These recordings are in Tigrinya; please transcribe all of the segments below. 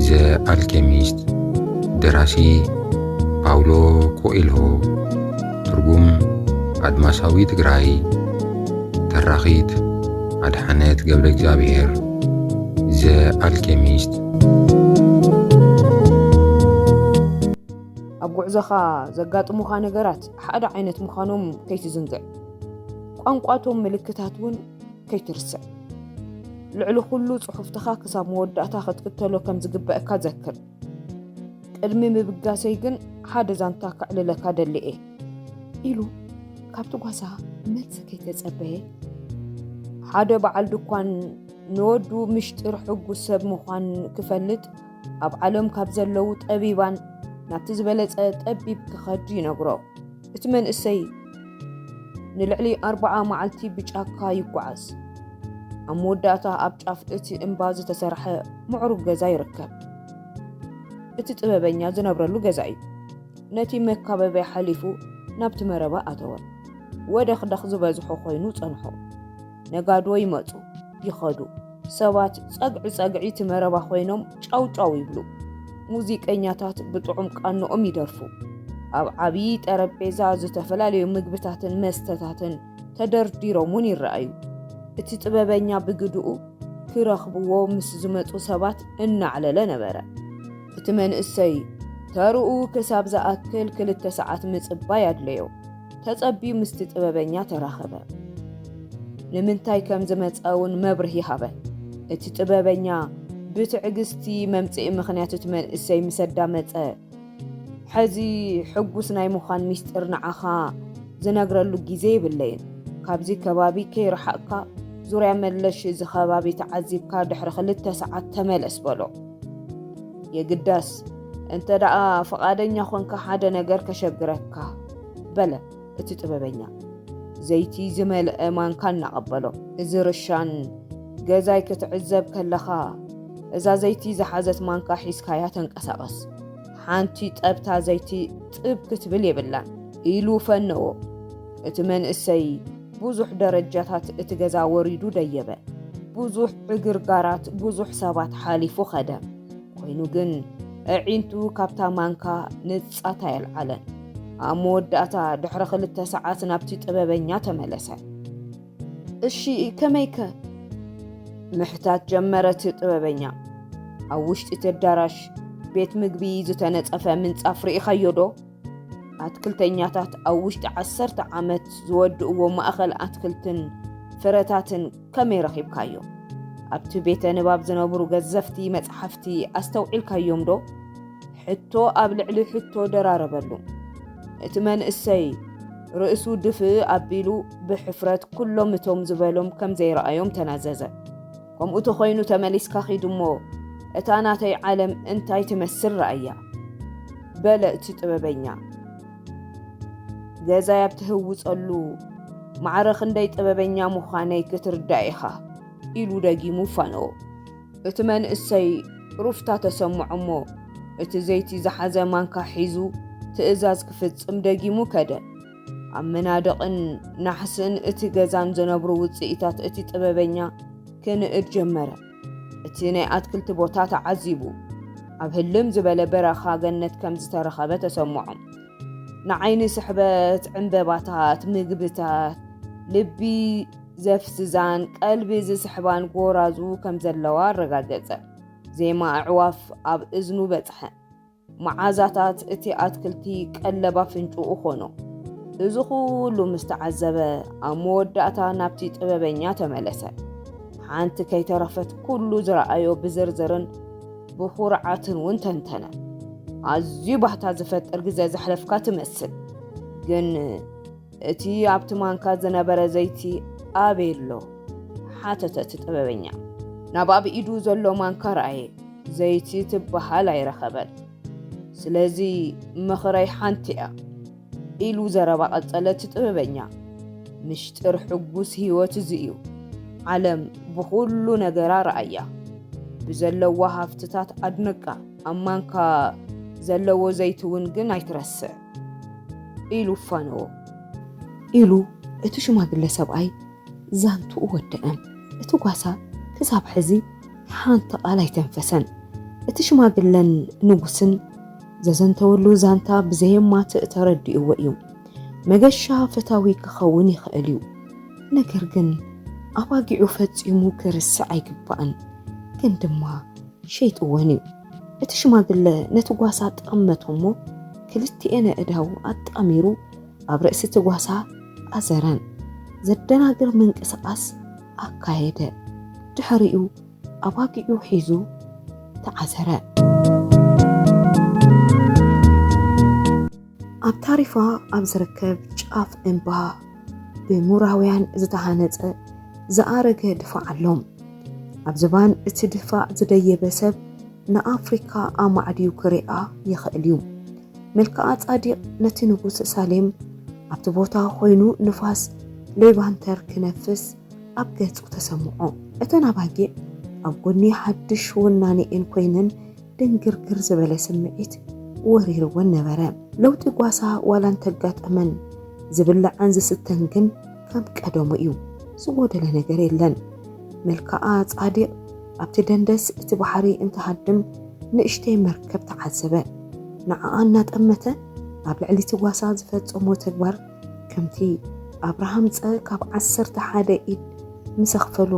ዘ ኣልኬሚስት ደራሲ ፓውሎ ኮኤልሆ፣ ትርጉም ኣድማሳዊ ትግራይ፣ ተራኺት ኣድሓነት ገብረእግዚኣብሄር። ዘ ኣልኬሚስት። ኣብ ጉዕዞኻ ዘጋጥሙኻ ነገራት ሓደ ዓይነት ምዃኖም ከይትዝንግዕ። ቋንቋ እቶም ምልክታት እውን ከይትርስዕ። ልዕሊ ኩሉ ጽሑፍትኻ ክሳብ መወዳእታ ክትክተሎ ከም ዝግበእካ ዘክር። ቅድሚ ምብጋሰይ ግን ሓደ ዛንታ ከዕልለካ ደሊ እየ። ኢሉ ካብቲ ጓሳ መልሲ ከይተጸበየ ሓደ በዓል ድኳን ንወዱ ምሽጢር ሕጉስ ሰብ ምዃን ክፈልጥ ኣብ ዓለም ካብ ዘለዉ ጠቢባን ናብቲ ዝበለጸ ጠቢብ ክኸድ ይነግሮ። እቲ መንእሰይ ንልዕሊ ኣርባዓ መዓልቲ ብጫካ ይጓዓዝ። ኣብ መወዳእታ ኣብ ጫፍ እቲ እምባ ዝተሰርሐ ምዕሩግ ገዛ ይርከብ። እቲ ጥበበኛ ዝነብረሉ ገዛ እዩ። ነቲ መካበቢያ ሓሊፉ ናብቲ መረባ ኣተወ። ወደኽደኽ ዝበዝሖ ኮይኑ ጸንሖ። ነጋዶ ይመጹ ይኸዱ። ሰባት ጸግዒ ጸግዒ እቲ መረባ ኮይኖም ጫው ጫው ይብሉ። ሙዚቀኛታት ብጥዑም ቃንኦም ይደርፉ። ኣብ ዓብዪ ጠረጴዛ ዝተፈላለዩ ምግብታትን መስተታትን ተደርዲሮም እውን ይረኣዩ። እቲ ጥበበኛ ብግድኡ ክረኽብዎ ምስ ዝመጹ ሰባት እናዕለለ ነበረ። እቲ መንእሰይ ተርኡ ክሳብ ዝኣክል ክልተ ሰዓት ምጽባይ ኣድለዮ። ተጸብዩ ምስቲ ጥበበኛ ተራኸበ። ንምንታይ ከም ዝመጸ እውን መብርሂ ሃበ። እቲ ጥበበኛ ብትዕግስቲ መምጽኢ ምኽንያት እቲ መንእሰይ ምስ ኣዳመጸ፣ ሕዚ ሕጉስ ናይ ምዃን ምስጢር ንዓኻ ዝነግረሉ ግዜ የብለይን። ካብዚ ከባቢ ከይረሓቕካ ዙርያ መለሽ እዚ ከባቢ ተዓዚብካ ድሕሪ ክልተ ሰዓት ተመለስ በሎ። የግዳስ እንተደኣ ፍቓደኛ ኾንካ ሓደ ነገር ከሸግረካ። በለ እቲ ጥበበኛ ዘይቲ ዝመልአ ማንካ እናቐበሎ። እዚ ርሻን ገዛይ ክትዕዘብ ከለኻ እዛ ዘይቲ ዝሓዘት ማንካ ሒዝካያ ተንቀሳቐስ፣ ሓንቲ ጠብታ ዘይቲ ጥብ ክትብል የብላን ኢሉ ፈነዎ። እቲ መንእሰይ ብዙሕ ደረጃታት እቲ ገዛ ወሪዱ ደየበ። ብዙሕ ዕግርጋራት፣ ብዙሕ ሰባት ሓሊፉ ኸደ። ኮይኑ ግን ኣዒንቱ ካብታ ማንካ ንጻት ኣየልዓለን። ኣብ መወዳእታ ድሕሪ ክልተ ሰዓት ናብቲ ጥበበኛ ተመለሰ። እሺ ከመይከ? ምሕታት ጀመረት ጥበበኛ። ኣብ ውሽጢ እቲ ኣዳራሽ ቤት ምግቢ ዝተነጸፈ ምንጻፍ ርኢኻዮ ዶ? ኣትክልተኛታት ኣብ ውሽጢ ዓሰርተ ዓመት ዝወድእዎ ማእኸል ኣትክልትን ፍረታትን ከመይ ረኺብካዮ? ኣብቲ ቤተ ንባብ ዝነብሩ ገዘፍቲ መጽሓፍቲ ኣስተውዒልካዮም ዶ? ሕቶ ኣብ ልዕሊ ሕቶ ደራረበሉ። እቲ መንእሰይ ርእሱ ድፍእ ኣቢሉ ብሕፍረት ኩሎም እቶም ዝበሎም ከም ዘይረኣዮም ተናዘዘ። ከምኡ ተኾይኑ ተመሊስካ ኺድ እሞ እታ ናተይ ዓለም እንታይ ትመስል ረኣያ በለ እቲ ጥበበኛ። ገዛይ ኣብ ትህውጸሉ ማዕረ ክንደይ ጥበበኛ ምዃነይ ክትርዳእ ኢኻ ኢሉ ደጊሙ ፋነዎ። እቲ መንእሰይ ሩፍታ ተሰምዖ እሞ እቲ ዘይቲ ዝሓዘ ማንካ ሒዙ ትእዛዝ ክፍጽም ደጊሙ ከደ። ኣብ መናድቕን ናሕስን እቲ ገዛን ዝነብሩ ውፅኢታት እቲ ጥበበኛ ክንእድ ጀመረ። እቲ ናይ ኣትክልቲ ቦታ ተዓዚቡ ኣብ ህልም ዝበለ በረኻ ገነት ከም ዝተረኸበ ተሰምዖም። ንዓይኒ ስሕበት ዕምበባታት፣ ምግብታት፣ ልቢ ዘፍዝዛን ቀልቢ ዝስሕባን ጎራዙ ከም ዘለዋ ኣረጋገጸ። ዜማ ኣዕዋፍ ኣብ እዝኑ በጽሐ። መዓዛታት እቲ ኣትክልቲ ቀለብ ኣፍንጭኡ ኾኖ። እዚ ኹሉ ምስ ተዓዘበ ኣብ መወዳእታ ናብቲ ጥበበኛ ተመለሰ። ሓንቲ ከይተረፈት ኩሉ ዝረኣዮ ብዝርዝርን ብኹርዓትን እውን ተንተነ። ኣዝዩ ባህታ ዝፈጥር ግዘ ዘሕለፍካ ትመስል ግን እቲ ኣብቲ ማንካ ዝነበረ ዘይቲ ኣበይ ኣሎ ሓተተ እቲ ጥበበኛ ናብ ኣብ ኢዱ ዘሎ ማንካ ረኣየ ዘይቲ ትበሃል ኣይረኸበን ስለዚ ምኽረይ ሓንቲ እያ ኢሉ ዘረባ ቀጸለ እቲ ጥበበኛ ምሽጢር ሕጉስ ህይወት እዚ እዩ ዓለም ብኹሉ ነገራ ረኣያ ብዘለዋ ሃፍትታት ኣድንቃ ኣብ ማንካ ዘለዎ ዘይትውን ግን ኣይትረስዕ ኢሉ ፋነዎ። ኢሉ እቲ ሽማግለ ሰብኣይ ዛንትኡ ወደኣ። እቲ ጓሳ ክሳብ ሕዚ ሓንቲ ቃል ኣይተንፈሰን። እቲ ሽማግለን ንጉስን ዘዘንተወሉ ዛንታ ብዘየማትእ ተረዲእዎ እዩ። መገሻ ፈታዊ ክኸውን ይኽእል እዩ። ነገር ግን ኣባጊዑ ፈጺሙ ክርስዕ ኣይግባእን። ግን ድማ ሸይጥወን እዩ። እቲ ሽማግለ ነቲ ጓሳ ጠመቶ እሞ ክልቲኤን ኣእዳው ኣጣሚሩ ኣብ ርእሲ እቲ ጓሳ ኣዘረን ዘደናግር ምንቅስቓስ ኣካየደ። ድሕሪኡ ኣባጊዑ ሒዙ ተዓዘረ። ኣብ ታሪፋ ኣብ ዝርከብ ጫፍ እምባ ብምሁራውያን ዝተሃነፀ ዝኣረገ ድፋዕ ኣሎ። ኣብ ዝባን እቲ ድፋዕ ዝደየበ ሰብ ንኣፍሪካ ኣማዕድዩ ክሪኣ ይኽእል እዩ። መልክኣ-ፃዲቅ ነቲ ንጉስ ሳሌም ኣብቲ ቦታ ኾይኑ ንፋስ ሌቫንተር ክነፍስ ኣብ ገፁ ተሰምዖ። እተን ኣባጊዕ ኣብ ጎኒ ሓዱሽ ወናኒኤን ኮይነን ድንግርግር ዝበለ ስምዒት ወሪርወን ነበረ። ለውጢ ጓሳ ዋላ እንተጋጠመን ዝብላዕን ዝስተን ግን ከም ቀደሙ እዩ። ዝጎደለ ነገር የለን። መልክኣ ጻዲቕ ኣብቲ ደንደስ እቲ ባሕሪ እንትሃድም ንእሽተይ መርከብ ተዓዘበ። ንዓኣ እናጠመተ ኣብ ልዕሊ እቲ ጓሳ ዝፈጸሞ ተግባር ከምቲ ኣብርሃም ፀ ካብ ዓሰርተ ሓደ ኢድ ምስ ኣኽፈሎ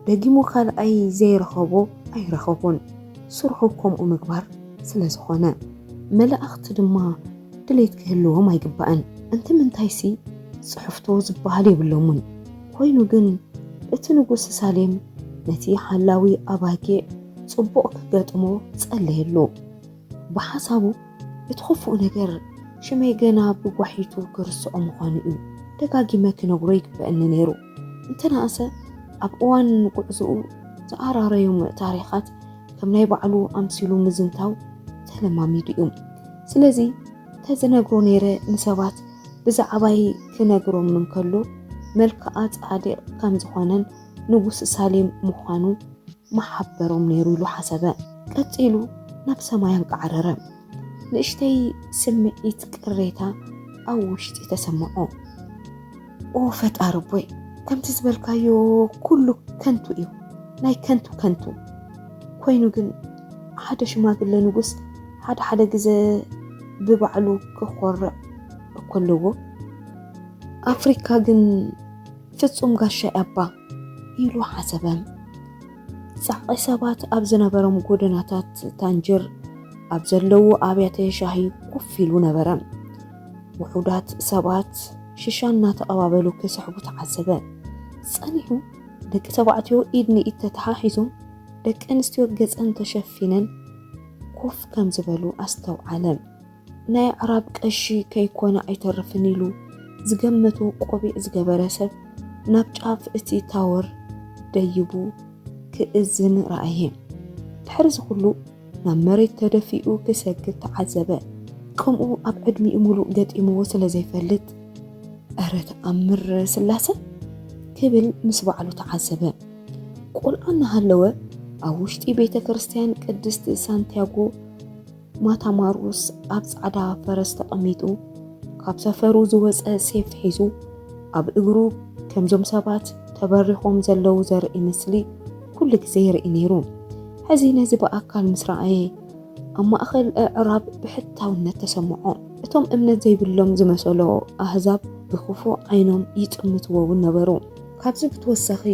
ደጊሙ ካልኣይ ዘይረኸቦ ኣይረኸቦን ስርሑ ከምኡ ምግባር ስለ ዝኾነ መላእኽቲ ድማ ድሌት ክህልዎም ኣይግባእን እንትምንታይሲ ፅሕፍቶ ዝበሃል የብሎሙን ኮይኑ ግን እቲ ንጉስ ሳሌም ነቲ ሓላዊ ኣባጊዕ ፅቡቕ ክገጥሞ ፀለየሉ። ብሓሳቡ እቲ ኽፉእ ነገር ሽመይ ገና ብጓሒቱ ክርስዖ ምዃኑ እዩ ደጋጊመ ክነግሮ ይግበእኒ ነይሩ። እንተነኣሰ ኣብ እዋን ጉዕዞኡ ዝኣራረዮም ታሪኻት ከም ናይ ባዕሉ ኣምሲሉ ምዝንታው ተለማሚዱ እዩ። ስለዚ ተዝነግሮ ነይረ ንሰባት ብዛዕባይ ክነግሮም እንከሎ መልክኣ ጻድቕ ከም ዝኾነን ንጉስ ሳሌም ምዃኑ ምሓበሮም ነይሩ ኢሉ ሓሰበ። ቀጺሉ ናብ ሰማይ ኣንቃዕረረ። ንእሽተይ ስምዒት ቅሬታ ኣብ ውሽጢ ተሰምዖ። ኦ ፈጣሪ ኣቦይ፣ ከምቲ ዝበልካዮ ኩሉ ከንቱ እዩ፣ ናይ ከንቱ ከንቱ። ኮይኑ ግን ሓደ ሽማግለ ንጉስ ሓደ ሓደ ግዘ ብባዕሉ ክኾርዕ እኮ ኣለዎ። ኣፍሪካ ግን ፍጹም ጋሻይ ኣባ ኢሉ ሓሰበ። ጻዕቒ ሰባት ኣብ ዝነበሮም ጎደናታት ታንጅር ኣብ ዘለዉ ኣብያተ ሻሂ ኮፍ ኢሉ ነበረ። ውሑዳት ሰባት ሽሻ እናተቐባበሉ ክስሕቡ ተዓዘበ። ጸኒሑ ደቂ ተባዕትዮ ኢድ ንኢድ ተተሓሒዞም ደቂ ኣንስትዮ ገጸን ተሸፊነን ኮፍ ከም ዝበሉ ኣስተውዓለ። ናይ ኣዕራብ ቀሺ ከይኮነ ኣይተርፍን ኢሉ ዝገመቶ ቆቢዕ ዝገበረ ሰብ ናብ ጫፍ እቲ ታወር ደይቡ ክእዝን ረኣየ። ድሕሪ'ዚ ኩሉ ናብ መሬት ተደፊኡ ክሰግድ ተዓዘበ። ከምኡ ኣብ ዕድሚኡ ምሉእ ገጢምዎ ስለ ዘይፈልጥ። እረ ተኣምር ስላሰ! ክብል ምስ ባዕሉ ተዓዘበ። ቆልዓ እናሃለወ ኣብ ውሽጢ ቤተ ክርስትያን ቅድስት ሳንቲያጎ ማታ ማሩስ ኣብ ጻዕዳ ፈረስ ተቐሚጡ ካብ ሰፈሩ ዝወጸ ሴፍ ሒዙ ኣብ እግሩ ከምዞም ሰባት ተበሪኾም ዘለዉ ዘርኢ ምስሊ ኩሉ ግዜ ይርኢ ነይሩ። ሕዚ ነዚ ብኣካል ምስ ረኣየ ኣብ ማእከል ኣዕራብ ብሕታውነት ተሰምዖ። እቶም እምነት ዘይብሎም ዝመሰሎ ኣህዛብ ብክፉእ ዓይኖም ይጥምትዎ እውን ነበሩ። ካብዚ ብተወሳኺ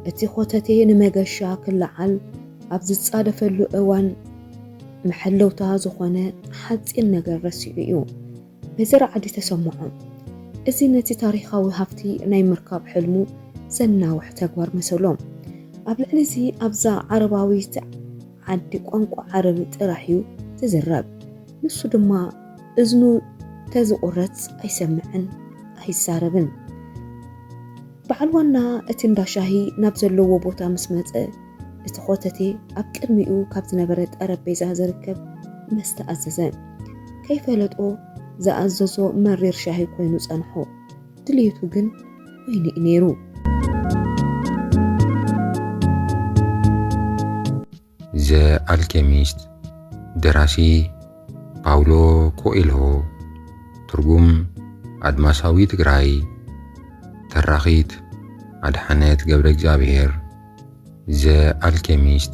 እቲ ኾተቴ ንመገሻ ክለዓል ኣብ ዝጻደፈሉ እዋን፣ መሐለውታ ዝኾነ ሓጺን ነገር ረሲዑ እዩ በዚ ራዕዲ ተሰምዖ። እዚ ነቲ ታሪኻዊ ሃብቲ ናይ ምርካብ ሕልሙ ዘናውሕ ተግባር መሰሎ። ኣብ ልዕሊ እዚ ኣብዛ ዓረባዊት ዓዲ ቋንቋ ዓረብ ጥራሕ እዩ ዝዝረብ። ንሱ ድማ እዝኑ ተዝቑረጽ ኣይሰምዕን ኣይዛረብን። በዓል ዋና እቲ እንዳ ሻሂ ናብ ዘለዎ ቦታ ምስ መጸ፣ እቲ ኾተቴ ኣብ ቅድሚኡ ካብ ዝነበረ ጠረጴዛ ዝርከብ መስተ ኣዘዘ። ከይፈለጦ ዝኣዘዞ መሪር ሻሂ ኮይኑ ጸንሖ። ድልየቱ ግን ወይኒ እዩ ነይሩ። ዘ ኣልኬሚስት ደራሲ ፓውሎ ኮኤልሆ ትርጉም ኣድማሳዊ ትግራይ ተራኺት ኣድሓነት ገብረ እግዚኣብሔር ዘ ኣልኬሚስት